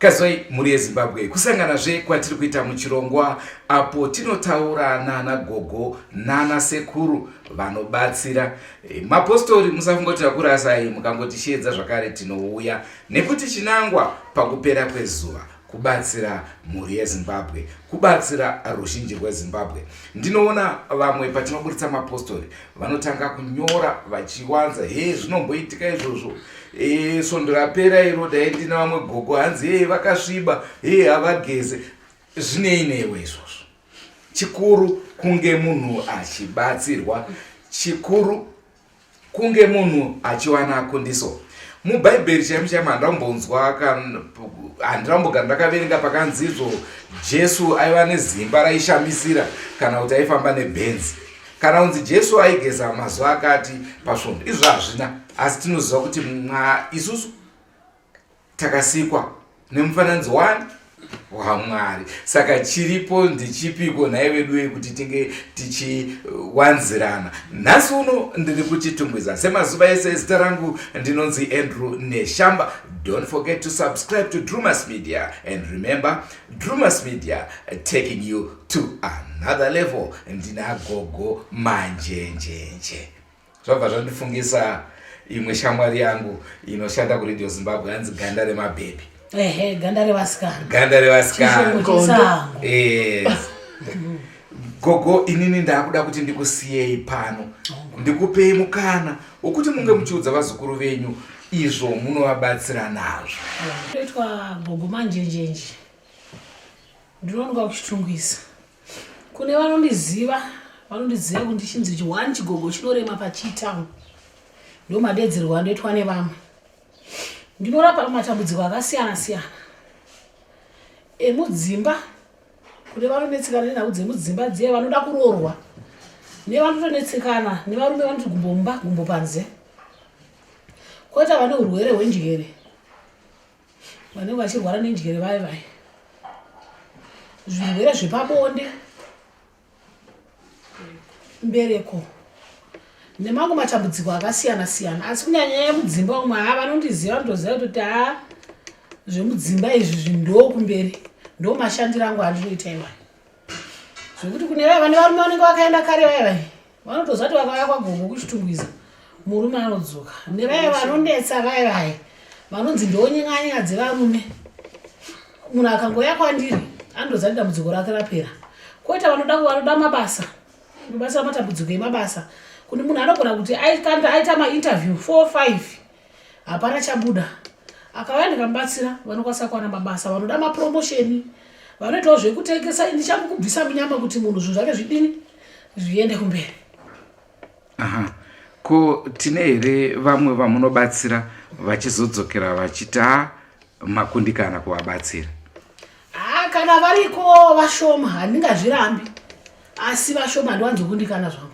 Kazoi mhuri yezimbabwe kusangana zve kwatiri kuita muchirongwa apo tinotaura nana gogo nana sekuru vanobatsira e, mapostori musafungoti akurasai mukangotisheedza zvakare tinouya nekuti chinangwa pakupera kwezuva kubatsira mhuri yezimbabwe kubatsira ruzhinji rwezimbabwe ndinoona vamwe patinoburitsa mapostori vanotanga kunyora vachiwanza he zvinomboitika izvozvo e, svondo rapera iro dai ndina vamwe gogo hanzi he vakasviba he havageze zvinei newe izvozvo chikuru kunge munhu achibatsirwa chikuru kunge munhu achiwana kundiso mubhaibheri chaimo chaimo handambonzwa handambogara ndakaverenga pakanzi izvo jesu aiva nezimba raishamisira kana kuti aifamba nebhenzi kana unzi jesu aigeza mazuva akati pasvondo izvo hazvina asi tinoziva kuti mwa isusu takasikwa nemufananidzo wani wamwari saka chiripo ndichipiko nhai veduwe kuti tinge tichiwanzirana nhasi uno ndiri kuchitungwiza semazuva ese zita rangu ndinonzi andrew neshamba don't forget to subscribe to drewmas media and remember drewmas media taking you to another level ndinagogo manjenjenje zvabva zvandifungisa imwe shamwari yangu inoshanda kuradio zimbabwe hanzi ganda remabhebhi ehe ganda revasikana ganda revasikana gogo inini ndakuda kuti ndikusiyei pano ndikupei mukana wokuti munge muchiudza vazukuru venyu izvo munovabatsira nazvo toitwa gogo manjenjenje Ndinonoka kuchitungwisa. Kune vanondiziva, vanondiziva kuti ndichinzi chiwani chigogo chinorema pachitamu. Ndomadedzerwa anoitwa nevamwe. Ndinorapa matambudziko akasiyana siyana emudzimba kune vanonetsekana nenhau dzemudzimba dziye vanoda kuroorwa nevanotonetsekana nevarume vanoti gumbomba gumbo panze koita vane urwere hwenjere vanenge vachirwara nenjere vaye vaye zvirwere zvepabonde mbereko nemamwe matambudziko akasiyana siyana asi kunyanya nyaya mudzimba umwe haa vanondiziva vanotoziva kutoti haa zvemudzimba izvi zvindokumberi ndomashandiro angu andinoita iwayo zvekuti kune vaya vane varume vanenge vakaenda kare vaya vaya vanotoziva kuti vakauya kwagogo kuchitungwiza murume anodzoka nevaya vanonetsa vaya vaya vanonzi ndonyenganyenya dzevarume munhu akangouya kwandiri andoziva kuti dambudziko rake rapera koita vanoda vanoda mabasa mabasa matambudziko emabasa kuti munhu anogona kuti aita mainterview four five hapana chabuda akauya ndikamubatsira vanokwanisa kuwana mabasa vanoda mapromosheni vanoitawo zvekutengesa ini chamukubvisa munyama kuti munhu zvinhu zvake zvidini zviende kumberi aha ko tine here vamwe vamunobatsira vachizodzokera vachiti a makundikana kuvabatsira haa kana variko vashoma handingazvirambi asi vashoma handiwanzokundikana zvangu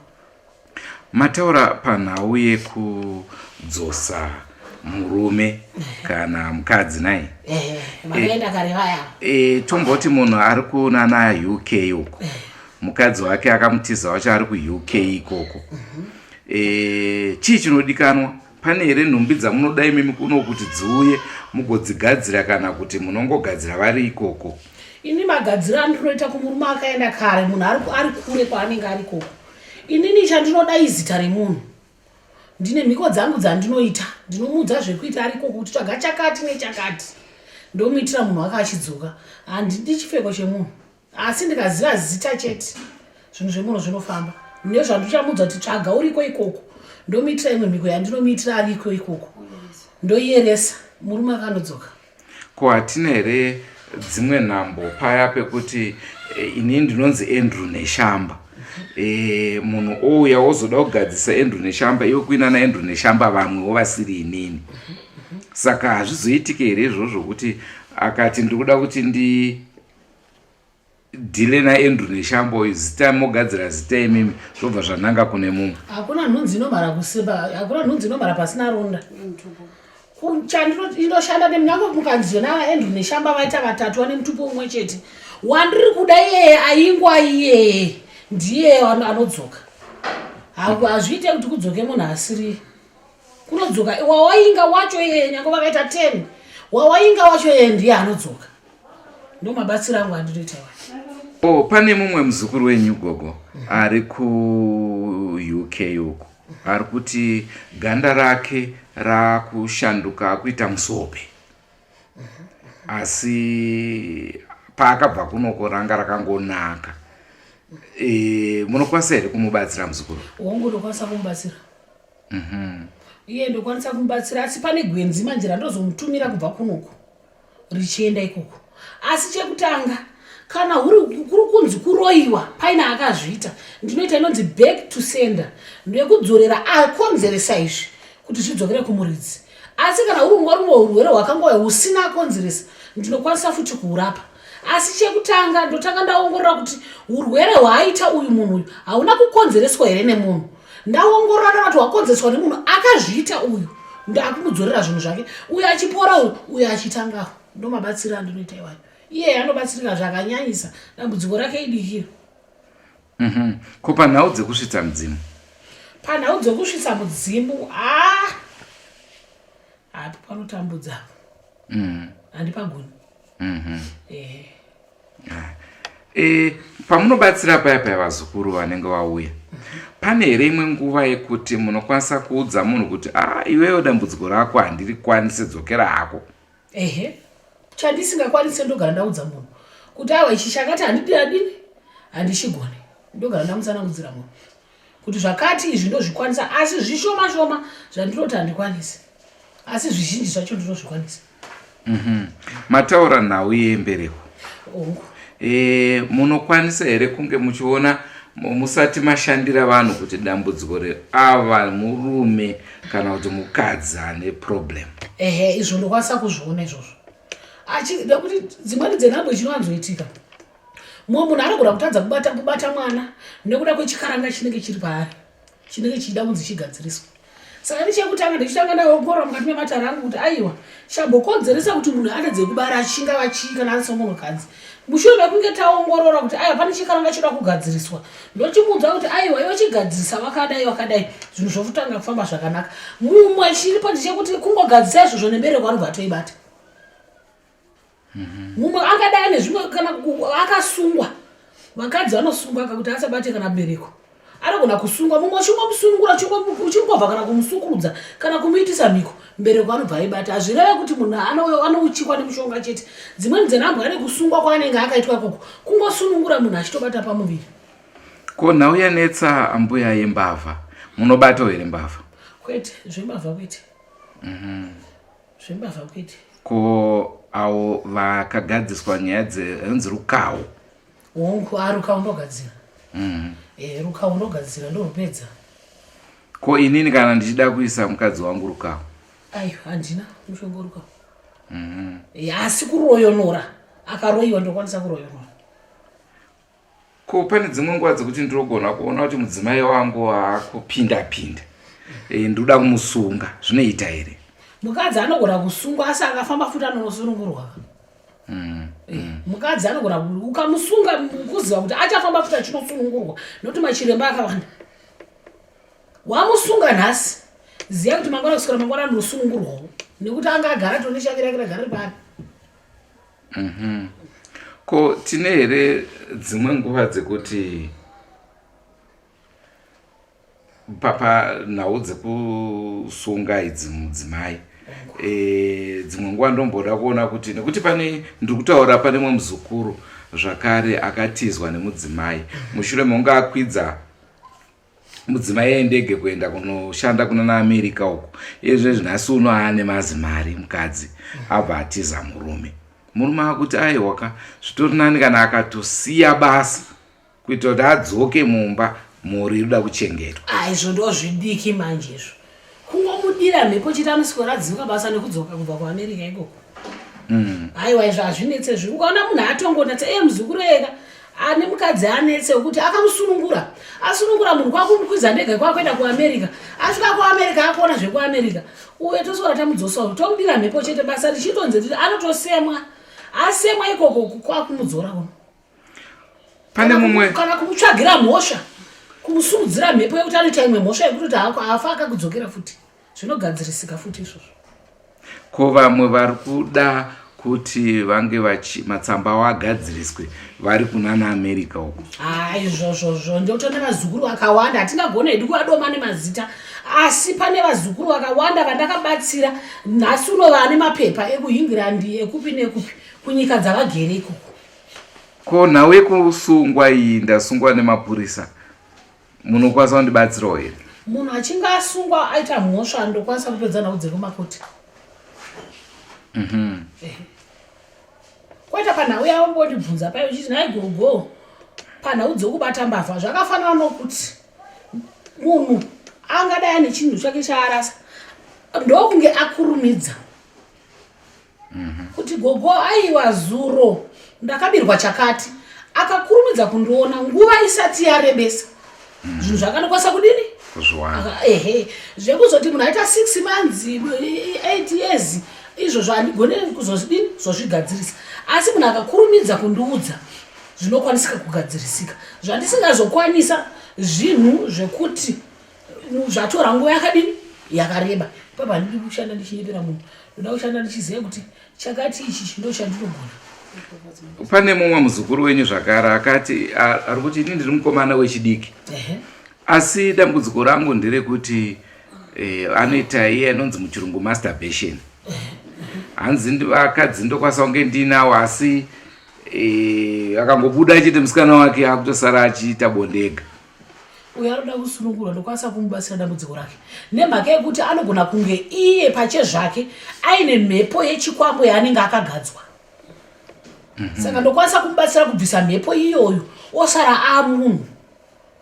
Mataura panhau yekudzosa murume kana mukadzi nai eh, eh, eh, tomboti munhu ari kunana uk uko mukadzi wake akamutiza wacho ari kuuk ikoko mhm. chii chinodikanwa pane here nhumbi dzamunoda imimi kuno kuti dziuye mugodzigadzira kana kuti munongogadzira vari ikoko ini magadziro andinoita kumurume akaenda kare munhu ari kure kwaanenge ari koko inini chandinoda izita remunhu ndine mhiko dzangu dzandinoita ndinomuudza zvekuita ariko kuti tsvaga chakati nechakati ndomuitira munhu wake achidzoka handidi chipfeko chemunhu asi ndikaziva zita chete zvinhu zvemuno zvinofamba nezvandichamuudza kuti tsvaga uriko ikoko ndomuitira imwe mhiko yandinomuitira ariko ikoko ndoiyeresa murume akanodzoka ko hatina here dzimwe nhambo paya pekuti eh, ini ndinonzi andrew neshamba e, munhu ouya wozoda kugadzisa andrew neshamba iwe kuina naandrew neshamba vamwewo vasiri inini saka hazvizoitike here izvozvo kuti akati ndiri kuda kuti ndi dhile naendru neshambo uyu zita mogadzira zita imimi zvobva zvananga kune mumwe hakuna nhunzi inomhara kusimba hakuna nhunzi inomhara pasina runda chandinoshanda nemnyange mukanziyo naaendru neshamba vaita vatatu vane mutupo umwe chete wandiri kuda iyeye aingwa iyeye ndiye anodzoka hazviite kuti kudzoke munhu asiriye kunodzoka wawainga wacho iye nyange vakaita ten wawainga wacho iye ndiye anodzoka ndo mabatsiro angu andinoita wa o oh, pane mumwe muzukuru wenyu gogo ari kuuk uku ari kuti ganda rake rakushanduka akuita musope asi paakabva kunoko ranga rakangonaka e, munokwanisa here kumubatsira muzukuru wangu ndokwanisa kumubatsira Mhm. iye ndokwanisa kumubatsira asi pane gwenzi manje randozomutumira kubva kunoku richienda ikoko asi chekutanga kana huri- kuri kunzi kuroyiwa paine akazviita ndinoita inonzi back to sender nekudzorera akonzeresa izvi kuti zvidzokere kumuridzi asi kana huri ungori urwere hwakangouya husina akonzeresa ndinokwanisa futi kuhurapa asi chekutanga ndotanga ndaongorora kuti urwere hwaaita uyu munhu uyu hauna kukonzereswa here nemunhu ndaongorora ndaona kuti hwakonzereswa nemunhu akazviita uyu ndakumudzorera zvinhu zvake uyu achipora uyu uyu achitangaho ndomabatsiro andinoita iwayo iye anobatsirika zvakanyanyisa dambudziko rake idikiro mhm. ko panhau dzekusvitsa mudzimu panhau dzekusvitsa mudzimu a ah! hapo panotambudzapo mhm. handipagoni mm-hmm. eh. ah. eh, pamunobatsira paya paya vazukuru vanenge vauya pane here imwe nguva yekuti munokwanisa kuudza munhu kuti a ah, iweyo dambudziko rako handiri kwanise dzokera hako ehe chandisingakwanise ndogara ndaudza munhu kuti awa ichi chakati handidi adini handichigone ndogara ndamutsanangudzira munhu kuti zvakati izvi ndozvikwanisa asi zvishoma shoma zvandinoti handikwanisi asi zvizhinji zvacho ndinozvikwanisa mhm. mataura nhau yembereko e, munokwanisa here kunge muchiona musati mashandira vanhu kuti dambudziko reava murume kana kuti mukadzi ane problem ehe izvo ndokwanisa kuzviona izvozvo achida kuti dzimweni dzenhambo chinowanzoitika mumwe munhu anogona kutadza kubata kubata mwana nekuda kwechikaranga chinenge chiri paari chinenge chichida kunzi chigadziriswa saka ndichekutanga ndichitanga ndaongorora mukati mematare angu kuti aiwa chambokonzeresa kuti munhu atadze kubara achinga vachii kana ari somunhukadzi mushure mekunge taongorora kuti aiwa pane chikaranga choda kugadziriswa ndochimuudza kuti aiwa iwe chigadzirisa vakadai vakadai zvinhu zvokutanga kufamba zvakanaka mumwe chiripo ndichekuti kungogadzisa izvozvo nembereko anobva atoibata mumwe angadai ane zvimwe kana akasungwa vakadzi vanosungwa kakuti asabate kana bereko anogona kusungwa mumwe uchingomusungura uchingobva kana kumusukurudza kana kumuitisa mhiko mbereko anobva aibata hazvireve kuti munhu anouchikwa nemushonga chete dzimweni dzenhambwa ane kusungwa kwaanenge akaitwa ikoko kungosunungura munhu achitobata pamuviri ko nhau yanetsa ambuya yembavha munobatawo here mbavha kwete zvembavha kwete mhm. zvembavha kuiti ko awo vakagadziswa nyaya dzenzi rukawo hongu a ah, rukawo ndogadzira mm. e, rukawo ndogadzira ndorupedza ko inini kana ndichida kuisa mukadzi wangu rukawo aiwa handina mushonga rukawo mm -hmm. e, asi kuroyonora akaroyiwa ndokwanisa kuroyonora ko pane dzimwe nguva dzekuti ndinogona kuona kuti mudzimai wangu akupinda pinda e, ndoda kumusunga zvinoita here mukadzi anogona kusungwa asi akafamba futi anonosunungurwa mm, eh, mm. mukadzi anogona ukamusunga kuziva kuti achafamba futi achinosunungurwa nokuti machiremba akawanda wamusunga nhasi ziva kuti mangwana kuswera mangwana anonosunungurwawo nekuti anga agara tone chake rake ragara ripari Mhm. Ko tine here dzimwe nguva dzekuti papa nhau dzekusunga idzi mudzimai e, dzimwe nguva ndomboda kuona kuti nekuti pane ndiri kutaura pane mwe muzukuru zvakare akatizwa nemudzimai mushure mekunge akwidza mudzimai yendege kuenda kunoshanda kuna naamerika uko ezve zvinhasi uno aane mazimari mukadzi abva atiza murume murume akuti aiwa ka zvitori nani kana akatosiya basa kuitira kuti adzoke mumba mhuri inoda kuchengetwa aizvo ndozvidiki manje izvo kungomudira mhepo chete anoswera adzinga basa nekudzoka kubva kuamerica ikoko mm. haiwa izvo hazvinetse zvi ukaona munhu atongonetse e muzukuru ega ane mukadzi anetse wekuti akamusunungura asunungura munhu kwakumukwiza ndege kwakuenda kuamerica asvika kuamerica akuona zvekuamerica uye toswera tamudzosa u tomudira mhepo chete basa richitonzi riri anotosemwa asemwa ikoko kwakumudzora uno pane mumwe kana kumutsvagira mhosva kumusurudzira mhepo yekuti anoita imwe mhosva yekuti kuti hako haafa akakudzokera futi zvinogadzirisika futi izvozvo ko vamwe vari kuda kuti vange vachi matsamba avo agadziriswe vari kunana america uko haa izvozvozvo ndoto nevazukuru vakawanda hatingagona hedu kuvadoma nemazita asi pane vazukuru vakawanda vandakabatsira nhasi uno vane mapepa ekuhingirandi ekupi nekupi kunyika dzavagere ikoko Ko nhau yekusungwa iyi ndasungwa nemapurisa munokwanisa kundibatsirawo here? Munhu achinge asungwa aita mhosva ndokwanisa kupedza nhau dziri kumakoti. Mhm. Eh. Kwaita panhau yavo mbondibvunza payo uchiti nhai gogo panhau dzokubata mbavha zvakafanana nokuti munhu angadai ane chinhu chake chaarasa ndokunge akurumidza kuti gogo aiwa zuro ndakabirwa chakati akakurumidza kundiona nguva isati yarebesa zvinhu zvakanokwanisa kudini Aka- ehe zvekuzoti munhu aita six months i- i- eight years izvozvo handigone kuzozvidini zozvigadzirisa asi munhu akakurumidza kundiudza zvinokwanisika kugadzirisika zvandisingazokwanisa zvinhu zvekuti zvatora nguva yakadini yakareba papa handidi kushanda ndichinyepera munhu ndoda kushanda ndichiziva kuti chakati ichi chindo chandinogona pane mumwe muzukuru wenyu zvakare akati ari kuti ini ndiri mukomana wechidiki asi dambudziko rangu nderekuti eh, anoita iye anonzi muchirungu masturbation hanzi vakadzi ndokwanisa kunge ndiinawo asi eh, akangobuda achiti musikana wake akutosara achiita bondega uyo anoda kusunungurwa ndokwanisa kumubatsira dambudziko rake nemhaka yekuti anogona kunge iye pache zvake aine mhepo yechikwambo yaanenge akagadzwa mhm. saka ndokwanisa kumubatsira kubvisa mhepo iyoyo osara amunhu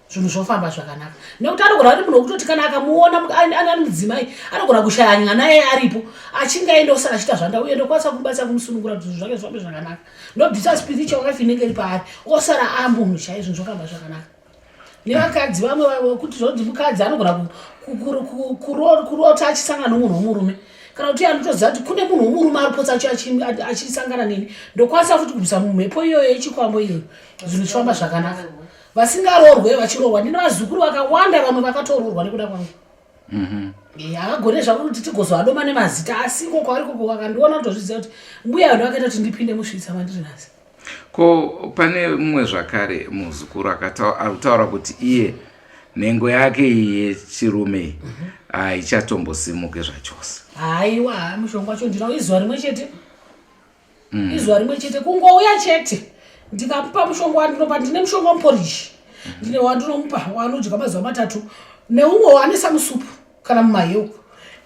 zvinhu zvofamba zvakanaka nekuti anogona kuti munhu wekutoti kana akamuona ani mudzimai anogona kushaya nyana naye aripo achinge aenda osara achiita zvanda uye ndokwanisa kumubatsira kumusunungura kuti zvinhu zvake zvifambe zvakanaka ndobvisa spiritual wife inenge iri paari osara amunhu chaizvo zvokamba zvakanaka nevakadzi vamwe vekuti zvonzi mukadzi anogona kurota achisangana nomunhu womurume kana kuti anotoziva kuti kune munhu womurume ari potsa achisangana neni ndokwanisa futi kubvisa mumhepo iyoyo yechikwambo iyoyo zvinhu zvifamba zvakanaka vasingaroorwe vachiroorwa ndine vazukuru vakawanda vamwe vakatoroorwa nekuda kwangu Mhm. Eh, havagone zvavo kuti tigozoadoma nemazita asi iko kwavari koko vakandiona kutozviziva kuti mbuya vanhu vakaita kuti ndipinde musvitsa mandiri nhasi ko pane mumwe zvakare muzukuru akatau- ari kutaura kuti iye nhengo yake iyi yechirume iyi haichatombosimuke zvachose haiwa haa mushonga wacho ndinawo izuva rimwe chete mm. izuva rimwe chete kungouya chete ndikamupa mushonga wandinopa ndine mushonga wamuporishi mm. ndine wandinomupa wanodya mazuva matatu neumwe waanisa musupu kana mumahewu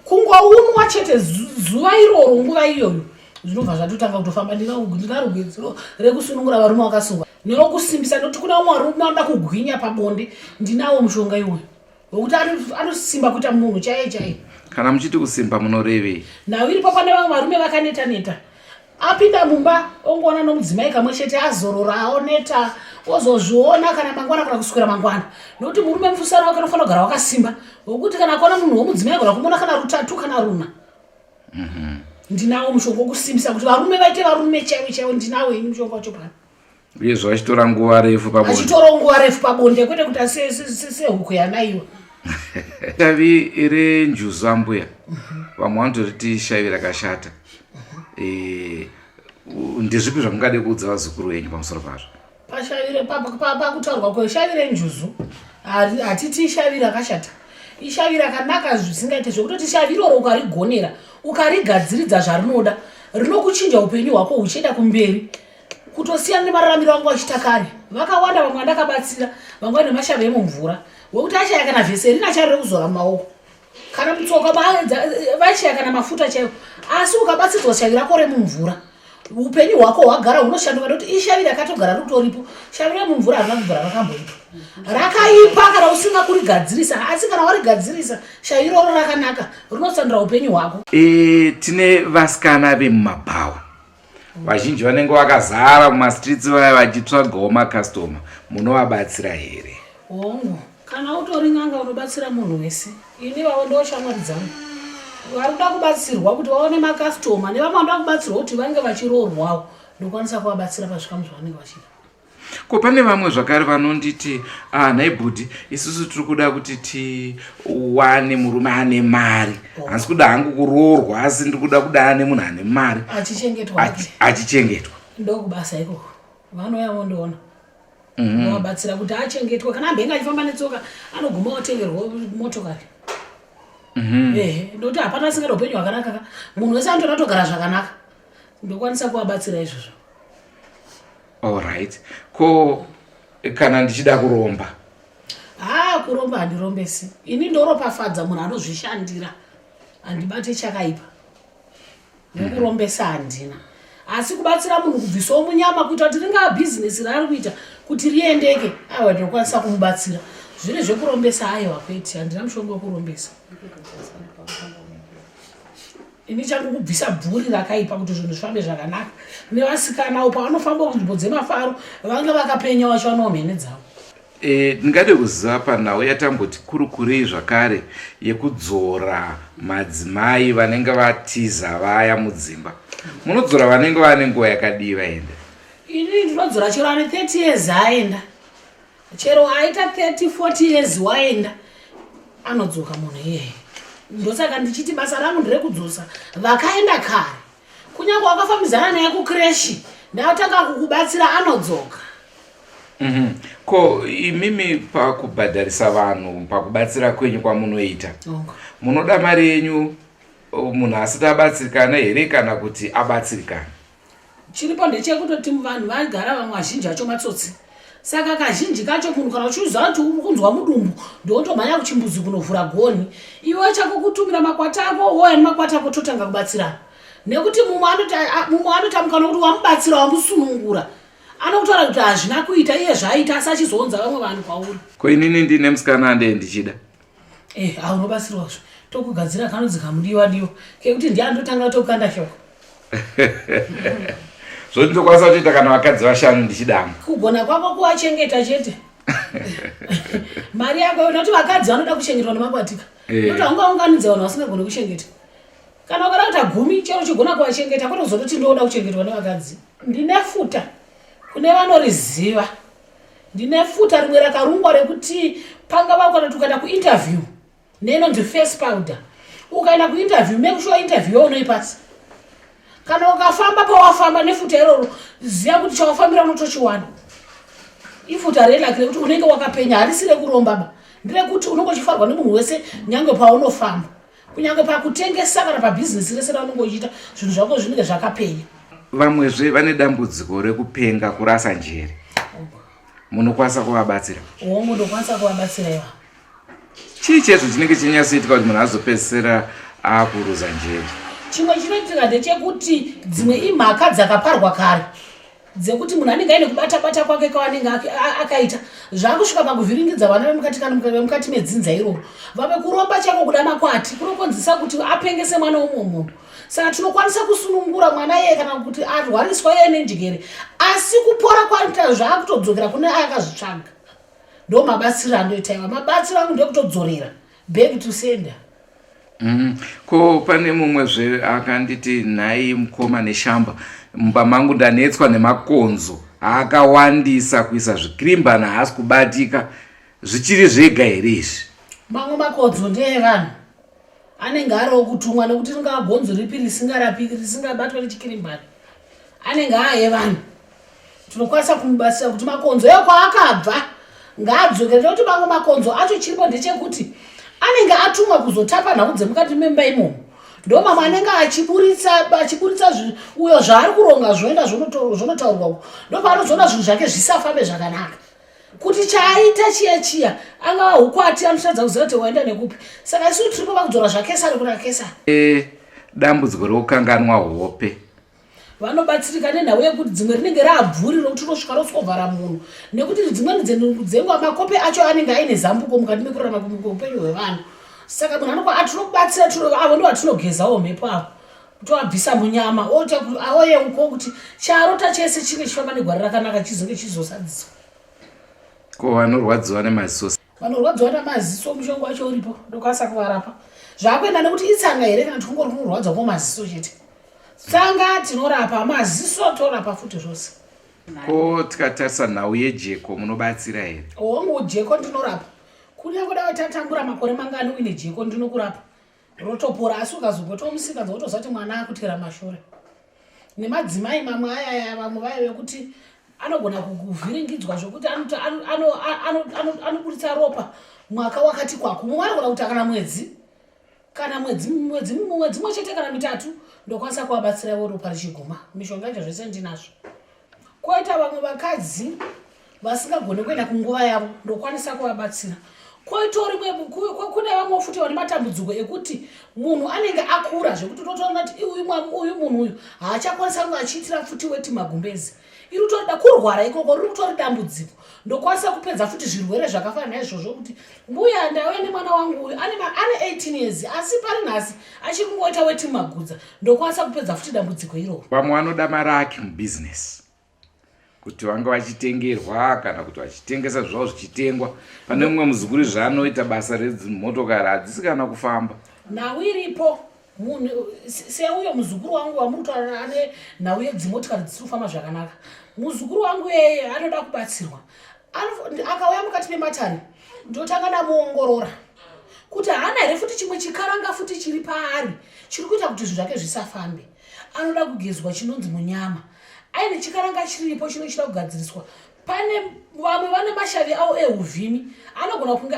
kungounwa chete zuva iroro nguva iyoyo zvinobva zvatotanga kutofamba ndinarugwedzero rekusunungura varume vakasungwa newokusimbisa nekuti kuna umwe varume anoda kugwinya pabonde ndinawo mushonga iwoyo nokuti anosimba kuita munhu chaiye chaiye kana muchiti kusimba munorevei nhau iripo pane vamwe varume vakaneta neta apinda mumba ongoona nomudzimai kamwe chete azorora aoneta ozozviona kana mangwana kana kusukira mangwana nokuti murume mufusana wake unofanira kugara wakasimba wokuti kana akaona munhu womudzimai agona kumona kana rutatu kana runa mhm. ndinawo mushonga wokusimbisa kuti varume vaite varume chaivo chaivo ndinawo ini mushonga wacho pano uyezve achitora nguva refu pabonde achitora nguva refu pabonde kwete kuti sehuku yanaiwa shavi iri njuzu ambuya mhm. vamwe vanotoriti shavi rakashata eh, ndezvipi zvamungade kuudza vazukuru venyu pamusoro pazvo pakutaurwa kweshavi renjuzu hatiti ishavi rakashata ishavi rakanaka zvisingaite zvekutoti shavi iroro ukarigonera ukarigadziridza zvarinoda rinokuchinja upenyu hwako uchienda kumberi kutosiyana nemararamiro angu achiita kare vakawanda vamwe vandakabatsira vamwe vane mashava emumvura wekuti achaya kana vhese rina chari rekuzora mumaoko kana mutsoka eh, vachaya kana mafuta chaiwo asi ukabatsirwa shavi rako remumvura upenyu hwako hwagara hunoshanduka nekuti ishavi rakatogara ritoripo shavi remumvura harina kubvura rakamboitwa rakaipa kana usinga kurigadzirisa asi kana warigadzirisa shavi iroro rakanaka rinosandura upenyu hwako e, tine vasikana vemumabhawa vazhinji vanenge vakazara mumastreets vaya vachitsvagawo macustoma munovabatsira here hongu kana utori n'anga unobatsira munhu wese ini vavo ndoshamwari dzangu vari kuda kubatsirwa kuti vaone macustoma nevamwe vanoda kubatsirwa kuti vange vachiroorwawo ndokwanisa kuvabatsira pazvikamu zvavanenge vachida ko pane vamwe zvakare vanonditi ah, nhai bhudhi isusu tiri kuda kuti tiwane murume ane mari oh. hasi kuda hangu kuroorwa asi ndiri kuda kuda ane munhu ane mari achichengetwa ndokubasa ikoko vanouya vondoona mhm. vabatsira kuti achengetwe kana ambenge achifamba netsoka anoguma otengerwa motokari mhm. ehe ndokuti hapana asingada upenyu hwakanaka ka munhu wese anotoda kutogara zvakanaka ndokwanisa kuvabatsira izvozvo Alright. Ko kana ndichida kuromba? Haa kuromba handirombesi. Ini ndoropafadza munhu anozvishandira. Handibate chakaipa. Nekurombesa handina. Asi kubatsira munhu kubvisawo munyama kuita kuti ringaa bhizinesi raari kuita kuti riendeke aiwa ndinokwanisa kumubatsira. Zviri zvekurombesa aiwa kwete handina mushonga wekurombesa. ini changu kubvisa bvuri rakaipa kuti zvinhu zvifambe zvakanaka nevasikanawo pavanofamba kunzvimbo dzemafaro vange vakapenya wacho vanowa mhene dzavo e, ndingade kuziva panhau yatamboti kurukurei zvakare yekudzora madzimai vanenge vatiza vaya mudzimba munodzora vanenge vane nguva yakadii vaenda ini ndinodzora chero ane 30 years aenda chero aita 30 40 years waenda anodzoka munhu iyeye ndosaka ndichiti basa rangu ndirekudzosa vakaenda kare kunyange wakafambizana naye kukreshi ndaatanga kukubatsira anodzoka mm -hmm. ko imimi pakubhadharisa vanhu pakubatsira kwenyu kwamunoita okay. munoda mari yenyu munhu asati abatsirikana here kana kuti abatsirikana chiripo ndechekutoti vanhu vagara vamwe vazhinji acho matsotsi saka kazhinji kacho munhu kana uchiuziva kuti uri kunzwa mudumbu ndotomhanya kuchimbuzi kunovhura goni iwe chako kutumira makwati ako wouya nemakwati ako totanga kubatsirana nekuti mumwe anotamuka nokuti wamubatsira wamusunungura anokutaura kuti hazvina kuita iye zvaaita asi achizounza vamwe vanhu kwauri ko inini ndine musikana andee ndichida Eh, ah, unobatsirwa zvo. Tokugadzira kanonzi kamudiwa diwa. Kekuti ndiye andotanga kutokanda shoko. Zvoti ndokwanisa kutoita kana vakadzi vashanu ndichidama. Kugona kwako kuwachengeta chete. Mari yako unoti vakadzi vanoda kuchengetwa nemakwatika. Eh. Kuti haungaunganidze vanhu vasingagoni kuchengeta. Kana ukada kuita gumi chero chigona kuwachengeta kwete kuzototi ndoda kuchengetwa nevakadzi. Ndine futa kune vanoriziva. ndine futa rimwe rakarungwa rekuti pangava ukanoti ukaenda kuinterview neinonzi face powder ukaenda kuinterview make sure interview yaunoipasa kana ukafamba pawafamba nefuta iroro ziva kuti chawafambira unotochiwana ifuta relaki rekuti unenge wakapenya harisi rekurombaba ndirekuti unongochifarwa nemunhu wese nyange paunofamba kunyange pakutengesa kana pabhizinesi rese raunenge uchiita zvinhu zvako zvinenge zvakapenya vamwezve vane dambudziko rekupenga kurasa njere munokwanisa kuvabatsira hongu ndokwanisa kuvabatsira iva chii chezvo chinenge chinyatsoitika kuti munhu azopedzisira akuruza njere chimwe chinoitika ndechekuti dzimwe imhaka dzakaparwa kare dzekuti munhu anenge aine kubata bata kwake kwaanenge akaita zvakusvika pakuvhiringidza vana vemukati kana vemukati medzinza iroro vave kuromba chako kuda makwati kunokonzisa kuti apengese mwana womwe munhu saka tinokwanisa kusunungura mwana iye kana kuti arwariswa iye nenjigere asi kupora kwaita zvaakutodzokera kune aakazvitsvaga ndo mabatsiro andoita iwa mabatsiro angu ndokutodzorera back to sender mm. ko pane mumwe zve akanditi nhai mukoma neshamba mumba mangu ndanetswa nemakonzo akawandisa kuisa zvikirimbana haasi kubatika zvichiri zvega here izvi mamwe makonzo ndeevanhu anenge ari okutumwa nekuti ringaa gonzo ripi risingarapiki risingabatwa nechikirimbana anenge aaevanhu tinokwanisa kumubatsira kuti makonzo eyo kwaakabva ngaadzokerere kuti mamwe makonzo acho chiripo ndechekuti anenge atumwa kuzotapa nhau dzemukati memba imomo ndo mamwe anenge achiburitsa achiburitsa uyo zvaari kuronga zvoenda zvonotaurwa ndo paanozoona zvinhu zvake zvisafambe zvakanaka kuti chaaita chiya chiya angava ukwati anotadza kuziva kuti waenda nekupi saka isu tiripo vakudzora zvakesari kuna kesari eh, dambudziko rekukanganwa hope vanobatsirika nenhau yekuti dzimwe rinenge raabvuri rokuti unosvika roswovhara munhu nekuti dzimweni dzenguva makope acho anenge aine zambuko mukati mekurarama upenyu hwevanhu saka munhu anokwa atinokubatsira avo ndo vatinogezawo mhepo avo toabvisa munyama oyeuko kuti charota chese chinge chifamba negwara rakanaka chizonge chizosadziswa ko vanorwadziwa nemaziso vanorwadziwa namaziso mushonga wacho uripo ndokwanisa kuvarapa zvakuenda nekuti itsanga here kana tikungori kunorwadza kwomaziso chete tsanga tinorapa maziso torapa futi zvose ko tikatarisa nhau yejeko munobatsira here hongu jeko ndinorapa kunyange dai tatambura makore mangani uine jeko ndinokurapa rotopora asi ukazobotwa musikadzi wotozati mwana akutera mashure nemadzimai mamwe ayaya vamwe vaive kuti anogona kuvhiringidzwa zvekuti anoburitsa ropa mwaka wakati kwako mumwe anogona kuti akana mwedzi kana mwedzi mwedzi mwedzi mwe chete kana mitatu ndokwanisa kuvabatsira ivo ropa richiguma mishonga icho zvese ndinazvo koita vamwe vakadzi vasingagone kuenda kunguva yavo ndokwanisa kuvabatsira koitori kune vamwe futi vane matambudziko ekuti munhu anenge akura zvekuti unotoona kuti uyu munhu uyu haachakwanisa kunge achiitira futi weti magumbezi iri utorida kurwara ikoko riri kutori dambudziko ndokwanisa kupedza futi zvirwere zvakafana naizvozvo kuti mbuya ndauya nemwana wangu uyu ane 18 years asi pari nhasi achiri kungoita weti magudza ndokwanisa kupedza futi dambudziko iroro vamwe vanoda maraki mubizinesi kuti vanga vachitengerwa kana kuti vachitengesa zvavo zvichitengwa pane mumwe muzukuri zvaanoita basa redzimotokari hadzisi kana kufamba nhau iripo munhu seuyo muzukuru wangu wamuri kutaura ane nhau yedzimotokari dzisiri kufamba zvakanaka muzukuru wangu eye anoda kubatsirwa akauya mukati mematani ndotanga ndamuongorora kuti haana here futi chimwe chikaranga futi chiri paari chiri kuita kuti zvinhu zvake zvisafambe anoda kugezwa chinonzi munyama aine chikaranga chiripo chinochida kugadziriswa pane vamwe vane mashavi avo euvhimi anogona kunge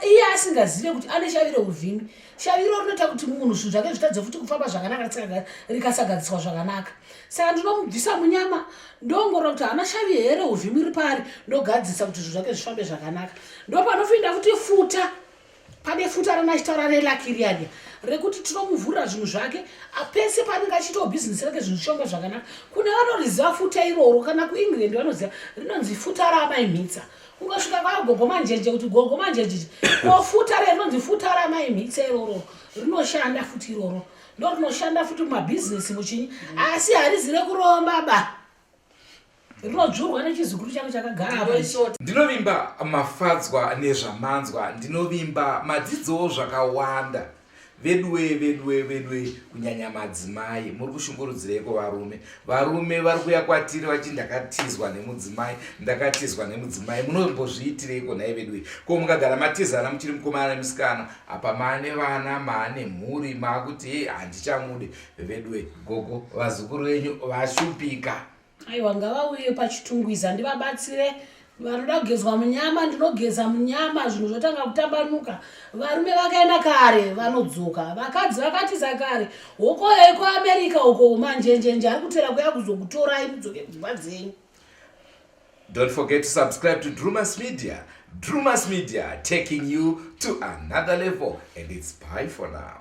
iye asingazive kuti ane shavi reuvhimi shavi iro rinoita kuti munhu zvinhu zvake zvitadze futi kufamba zvakanaka rikasagadziswa zvakanaka saka ndinomubvisa munyama ndongorora kuti haana shavi here reuvhimi ripari ndogadzisa kuti zvinhu zvake zvifambe zvakanaka ndopanofinda futi futa pane futi arana achitaura nelakiriania rekuti tinomuvhurira zvinhu zvake apese paanenge achiitawo bhizinesi rake zvinhu zvichionga zvakanaka kune vanoriziva futa iroro kana kuengland vanoziva rinonzi futa raamai mhitsa ungasvika kwagogo manjenje kuti gogo manjenjeje ko futa re rinonzi futa raamai mhitsa iroro rinoshanda futi iroro ndo rinoshanda futi mumabhizinesi muchinyi asi harizi rekuromba ba rinodzvurwa nechizukuru chako chakagara ndinovimba mafadzwa nezvamanzwa ndinovimba madzidzowo zvakawanda veduwe veduwe veduwe kunyanya madzimai muri kushungurudzireiko varume varume vari kuya kwatiri vachi ndakatizwa nemudzimai ndakatizwa nemudzimai munombozviitireiko nhai veduwe ko mukagara matizana muchiri mukomana nemusikana apa maane vana maane mhuri maakuti hei handichamude vedue gogo vazukuru venyu vashupika aiwa ngavauye pachitungwiza ndivabatsire vanoda kugezwa munyama ndinogeza munyama zvinhu zvotanga kutambanuka varume vakaenda kare vanodzoka vakadzi vakatiza kare hokoyo iko america uko manjenjenje ari kutera kuya kuzokutorai mudzoke kudzimba dzenyu Don't forget to subscribe to Drewmas Media. Drewmas Media taking you to another level and it's bye for now.